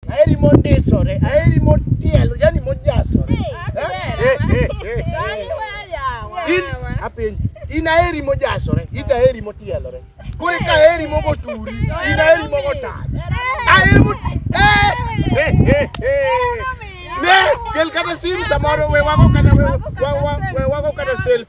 Aheri mondisore, aheri motielo, yani mojasore. In apenj, in aheri mojasore, ita aheri motielore. Kore ka aheri mogo turi, in aheri mogo tach. Aheri mo Ne, kel kata sim samoro we wago kata we wago kata selfie.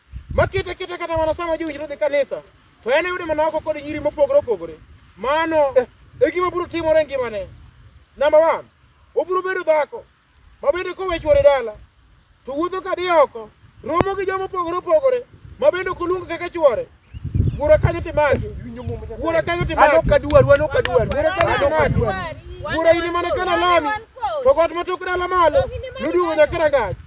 makita kita kata mana sama jowinjre dhi kanisa to en oyude mana oko kod nyiri mopogore opogore mano e gima biro timore e ngimane namba wan obiro bedo dhako ma bende kowe chwore dala to wuotho ka dhi oko romo gi joma opogore opogore ma bende ok oluong kaka chwore wuora kanyo timaki wuora kanyo timaki Wuora kanyo timaki wuora in mana kana lami to got ma tok dala malo noduogo nyaka rangach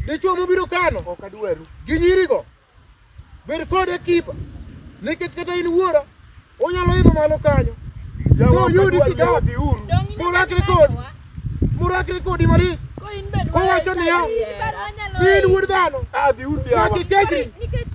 Dichwo mobiro kano ok adwaru. gi nyirigo, bed kode kipa, nikech kata in wuora, onyalo idho malo kanyo, Jawa ok Noyudi adwaru, kigawa. jawa dhiuru. Donge Mura ineno kri kod. nyawa? morakre kodi malich, Ko in be Kowacho niya, Nikech in wuod dhano, Ah, dhiuru jawa. nyaka ikechri. nikech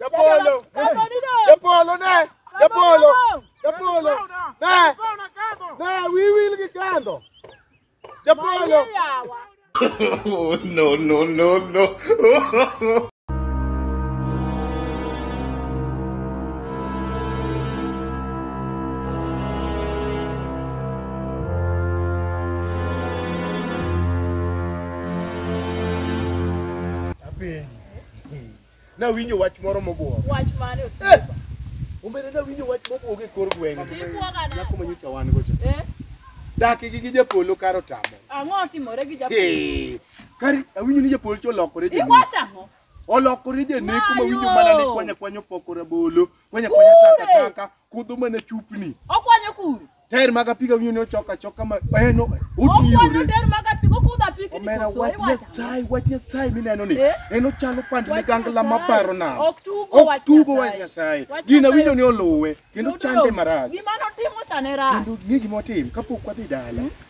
Japolo, Japolo ne, Japolo, Japolo ne, ne wiwil gi kando. Japolo. no, no, no, no. Apenji. Nawinjo wach moro mobuogo. Wach mane Eh! osiepa? Ombele nawinjo wach mobuogo e kor gweng'ni. Tibuoga nade? Nyako ma nyocha wan gocha. Eh? Daki gi gi japolo karo tamo. Ang'o otimore gi japolo? Hey, kari awinjo ni japolo cha olokore janek. Iwacho ang'o? Olokore janek kuma Mayo! winjo mana ni kwanya kwanya opoko rabolo, kwanya kwanya taka taka, kudho mana chupni. Okwanyo kuru. Tair mag apiko winjo ni ochok achoka ma en Okwano otiyore. ter mag apiko kudho apiko ni Omera koso wach iwacho. Nyasaye, wach Nyasaye mineno ni Eh? en ochalo pand Wach ligangla ma Nyasaye. paro nam. Ok tugo Ok wach tugo wach Nyasaye. Nyasaye. Wach Gina Nyasaye winjo ni olowe kendo Yudo chande marach. Gima notimo cha ne rach. Kendo ng'e gima otim kapok wadhi dala.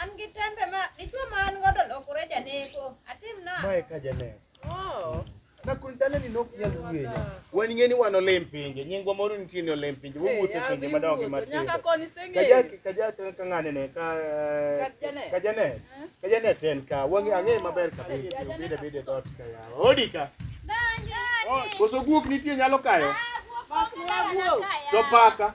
An gi tembe ma dichwo ma an godo lokore janeko. Atim na. Mae ka janeno. Oh. Na kun dala ni nok nyal wueyo. Wan ng'eni wan olim pinje. Nyingwa moro nitie ni olim pinje. Wowuotho pinje madongo gi matindo. Nyaka koni seng'e. Kajak kajak ka ng'ane ne ka ka janet. Ka janet en ka. Wang'e ang'e maber kabisa. Bide bide dot ka yawa. Odi ka. Donjo. Koso guok nitie nyalo kayo. Ah, guok. To paka.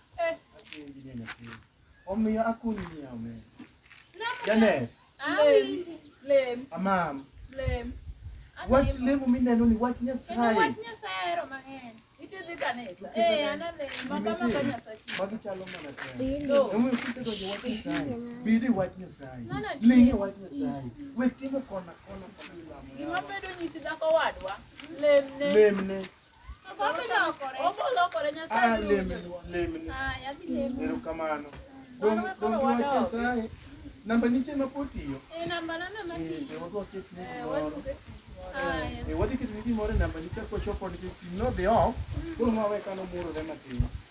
Omiyo akonyi ni ame. Janet, Lem. Lem. amam, Lem. wach lemo mineno ni wach Kendo Nyasaye. wach Nyasaye ahero mang'eny. Iti dhi kanisa. Eh, an alem. Maka maka Nyasaye. Magi chalo mana te. No. Omiyo kisedonjo wach Nyasaye, bed e wach Nyasaye. Mana adier. Ling' e wach Nyasaye. We timo kona kona kama ilamo Gima yawa. bedo nyisi dhako wadwa. Lem ne. Lemne. Ah, lemnu, lemnu. Erokamano. Dong' dong' dwach Nyasaye. Namba nitie ma pod tiyo. Eh, be wadwa ket ni moro. Eh, wadhi keto ni gimoro e namba nitie kwachopo nikech sim nodhi off. Koro ma we kano murore matin.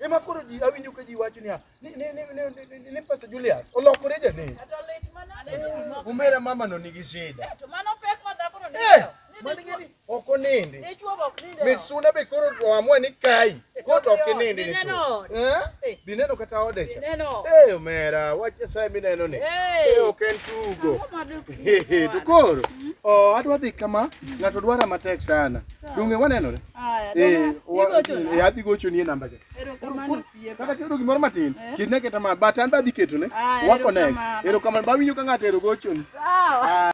Ema koro ji awinjo ka ji wacho niya, ni ni ni ni- ni- ni- ni Pastor Julius olokore janek. Kata lit manade ni gimoko. Omera mama no nigi shida. To mano pek ma dhakono Eh, nigo. Ni mani dichwo- gini ok onindi. dichwo be ok ninde. Misuna be koro oamua ni kai. Kot ok inindi ni. Dineno. tu. Eh? Eh. Dineno kata ode cha. Dineno. Eh, omera, wach Nyasaye mineno ni. Eh. Eh, ok en tugo. Ang'o ma dok- Hehe, to koro oh, adwa dhi kama ng'ato dwara matek sana donge wanenore Aya, Eh, dona, wa- igo chona. eh, adhi gocho ni e namba cha Erokamano osiepa. kata kero gimoro matin Eh. ketne keta ma but an be adhi ketone Aya, wako ne erokamano. erokamano bawinjo ka ng'ato ero gochoni Sawa.